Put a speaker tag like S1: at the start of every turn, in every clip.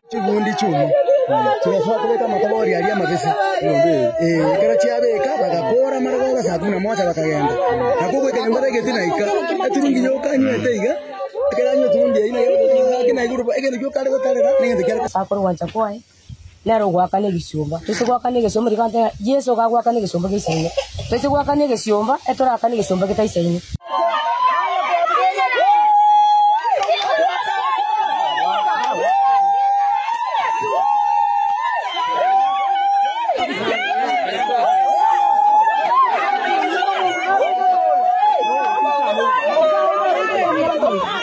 S1: chigundi chiuma chigasoa kobeka amakobori aria amabese Eh, ekero chiabeka bagakora mara gora saa kumi na moja bakagenda nako gweka nyomba begeti naika eturungi yoka nywete iga ekero anywa eturungi yaina gaki naiguru egento gioka are gotarera negento kiare korwancha kwaye
S2: Nere ogoakana egesomba. Toise goakana egesomba, rigo agoteba, Yeso iga agoakana egesomba geisaine. Toise goakana egesomba, etorakane egesomba getaisaine.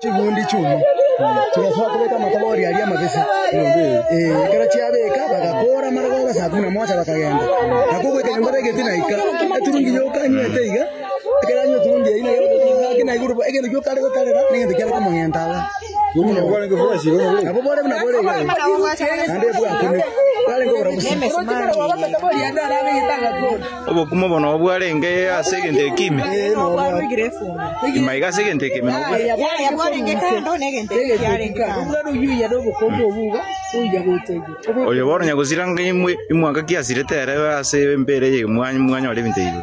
S2: Chigundi chi'omu chigasoa kobeka amatabori aria amabisa, ee, ekero chiabeka bagakoora amarogoba saa kumi na moja bakagenda. Nakobua ekenyomba begeti naika, eturungi yoka anywete iga.
S3: Obokumu obo nobo bwarenge ase egento ekiime, imaiga ase egento ekiime nobo Oyo bono nyagosira ng'a imwe imwanka kiasirete ere ase embeera eye mwanyore ebinto ebi.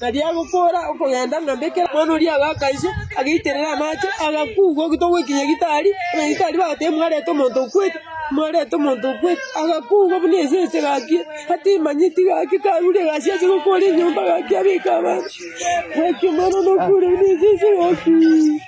S4: Tari agokoora okogenda, ng'a mbe kera omwana oria abe akaiswa, agaiterera amache, agakugwa ogito gwekinya gitari, buna gitari bagateba mwarete omonto okwete, mwarete omonto okwete, agakugwa buna esese gakia, atemanyeti gakia karure egasi ase gokoora enyomba gakia abeka abanto, gakia omwana one okure buna esese gakia.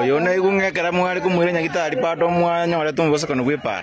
S4: Oyo naigwe ng'a ekero mware
S3: komoira nyagitari pato mwanyorete obosokani bw'epaara.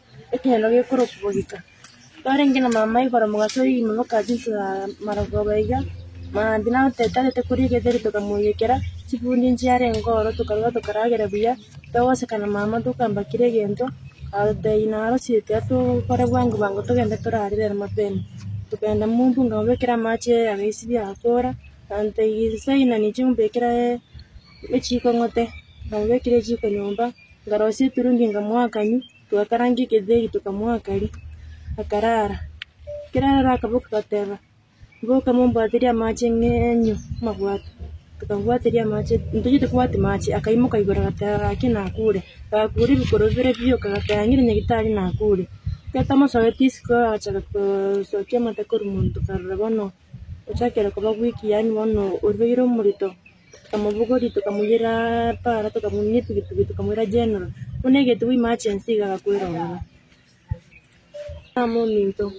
S2: Ekeene gekorokigwa geka. Twarenge na mama igoro mogaso oyio oimoka ase ense ya marogoba iga, mambia nabwate tarete koria githeri tokamoiyekera, chifundi nchiarenge oro tokarwa tokaragera buya, togoseka na mama tokamba kera egento,
S5: agotebia naro chiaito aria tokore bwango bwango togende torare rero mapema. Togenda mumbu nkamobekera amache agaisibia agakora, agantebia saina ninche ombekere echiko ng'ote, namobekera echiko nyomba. Ngarosia eturungi nkamoakania, twakaranga eketheri tokamoakaria, akarara. Ekero ararire akaboka agateba, mboka mombwaterie amache ng'enyo amabwato, tokamobwateria amache, ntitacheti kobwati mache, akaimoka igoro agateba gaki nakure, gakure ebikoro bibere biyoka agateba ng'iri nyagetari nakure. Ekero tamosoete isiko agachaka kosokia amate korwa monto karora bono ochakire koba weak yaani bono orubaire omorito. Tokamobogori, tokamoyera para, tokamounia etugitugi, tokamoira General. Buna egete bwa emergency iga agakwera ororo. Tama ominto.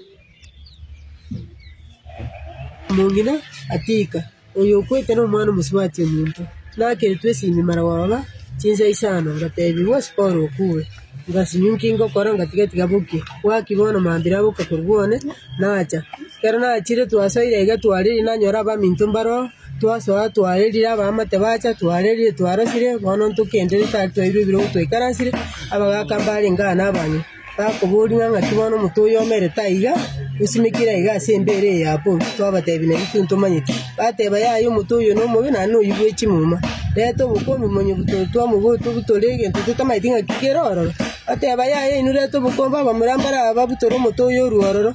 S4: Omong'ina atika, oyo okwete nomwana omosubati ominto. Nakeretwe esimi mara gwaoba chinsa isano, ngatebigwa osipore okure. Ngasinywa inki ngokora ngatiga tiga bokie. Bwaki bono mambia naboka korwa one, nacha. Ekero nachire twasoire iga twariri nanyora abaminto mbare oo. Twasoa, twaerire abaamate baacha, twarerirwe, twarosire, bono ntokenderere tari twairwe ebiro obwo twaikaransire, abagaaka mbarenge aa nabanywi, bakoboria ng'a ng'aki bono omonto oyo omerete aiga, osimekire aiga ase embeera eye ya bobe? Twabateebia, Nari tintomanyeti. Bateba, Yaya, omonto oyio nomobe, naende noyio bwe chimuma. Reta obokombe omonye butoro twamobota obutore egento totamanyeti ng'aki kere ororo. Bateba, Yaya, inwe reta obokombe abamura mbare aba babutore omonto oyio orue ororo.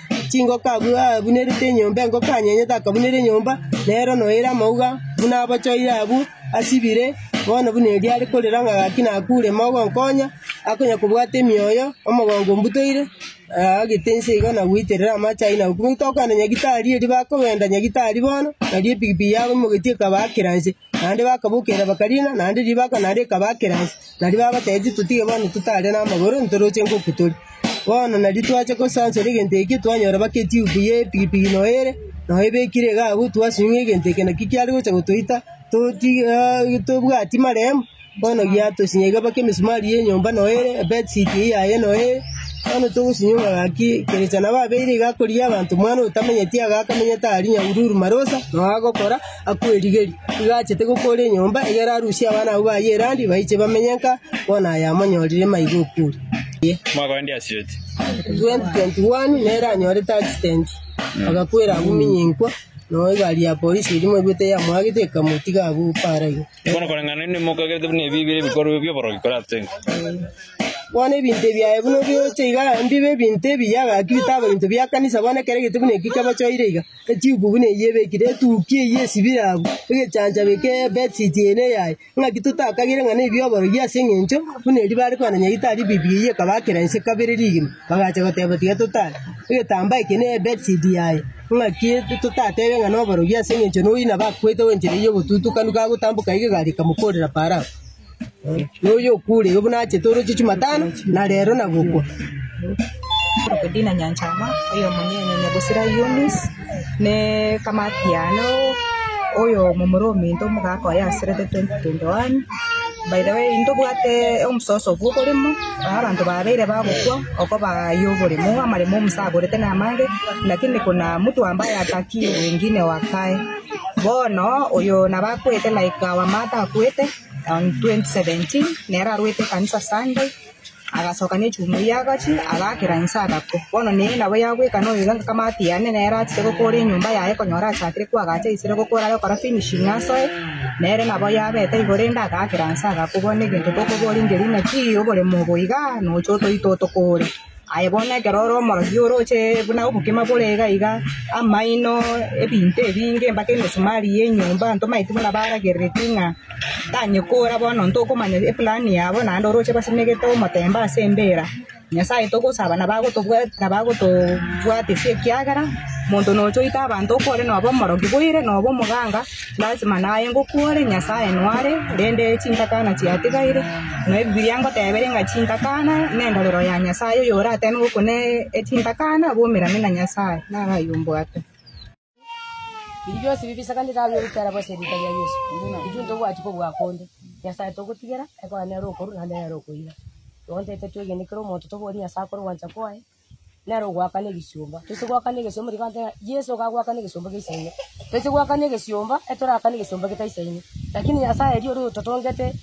S4: Chingoka abwo abunerete enyomba, engoko anyenyete akabunera enyomba, nero noire amauga buna abochoire abwo, asibire, bono buna erio are korera ng'a gaki nakure, mogonkonya, akonya kobwata emioyo, omogongo mbutoire, naagete inse iga na goiterera amache ayio na gokumia. Tokoenda Nyagetari erio bakogenda Nyagetari bono, nario epikipiki yabo imogetie ekabakera inse. Naende bakabokerera bakariina, naende ribaaka nario rikabaakera inse. Nario babateebia, Totige bono totare namagoro, ntorooche ngoku tore. Bono nari twacha gosansora egento eke, twanyora baka etiubu y'epigipigi noyo ere, noyo ebekire iga agwo, twasung'e egento eke, naki kiare gocha gotoita toti tobwati maremo. Bono giatosinye iga mpaka emisumari y'enyomba noyo ere ebedsit eyio yaye noyo ere. Bono togosinyia omogaki, kerecha nabo abeire iga akorigia abanto omwana otamenyeti iga akamenyete aria nyahururu marosa noyo agokora akwerigeria. Igo achete gokoora enyomba egere arusie abana abwo baye erandi baiche bamenye nka bono aye amonyorire maiga okori. Mwaka onde
S3: asireti.
S4: 2021 nere anyorete accident agakwera agwo minyinkwa noyo egari ya polisi eria mwaigwete yamoagete ekamotiga agwo paara iga. Bono koreng'ana nende
S3: mokagerete buna ebi bire ebikorwa bi'oborogi korateng'we.
S4: Bono ebinto ebi aye buna biocha iga mbibe ebinto ebi yagaki bitabe ebinto bia kanisa bono ekero egete buna eki kebochoire iga etubu buna eyio ebekire etuki eyio esibire abwo egechancha beke bedsheet eye ne yaye ng'aki totakagire ng'a nebi oborogi ase eng'encho buna erio bare kwana nyagete tari bibi eyio ekabakera inse kabere rigima bagacha goteba tiga totare egetambaa eke ne bedsheet yaye. Naki totatebe ng'a noborogia ase engencho noyio nabakwete goenchera eyio obotutukanu kagotamboka iga egari ekamokorera parao. Noyio okure iga buna achete oroche chimatano na rero na gokwa.
S6: Dina Nyanchama, oyo omonene Nyagusira Eunice, ne Kamatia, ne oyo momura ominto omogaka oye aserete 2021. By the way, intobwate omososo obwo oboremo, na abanto babeire bagokwa oko baye oboremo, amaremo Musa aborete namange, lakini kuna mtu ambaye hataki wengine wakae. Bono oyo nabo akwete like our mother akwete on 2017, nere arwete ekanisa Sunday. Agasoka ne chumbi eria agachi, agaakera inse, agakwa. Bono nere nabo yabweka noyoiga ng'a kama atiirane nere achake gokoora enyomba yaye, konyora achakire kwagacha aisire gokoora are gokora finishing asoe, nere nabo yabeta igoro ende agaakera inse agakwa. Bono egento tokoboria inki ngeri naki oboremo obo iga nocha otoite otokoore. Aye bono ekero ore omorokia oroche buna obokima bore iga iga, amaino, ebinto ebinge mpaka emesumari y'enyomba, ntomaeti buna baragereretie ng'a. Tanye kora bono ntokomanya eplani yabo naende oroche basemegete omotemba ase embeera. Nyasae togosaba nabagotobwati nabagotobwatisia ekiagera monto nocha oita abanto okore noba omorogi boire noba omoganga lasima naye ngokwore Nyasae nware rende chintakana chiatigaire na ebibiria ngotebere ng'a chintakana nendorero ya Nyasae oyorateme gokuna chintakana bomerane na Nyasae. Naro ayio mbwate.
S7: Biria bionsi bibisakanire aria ogotera bosa erieta ria Yeso, intwe ntobwati kobua konde. Nyasae togotigera, ekogera nere okoru naende nere okoiba. Igo ntete twegene kera omonto toborie Nyasae akore ogwancha kwaye, nere ogoakana egesiomba. Toise goakana egesiomba riria twateba Yeso iga agoakana egesiomba gia Isaaini. Toise goakana egesiomba, etorakane egesiomba geta Isaaini. Lakini Nyasae erio oria ototongete.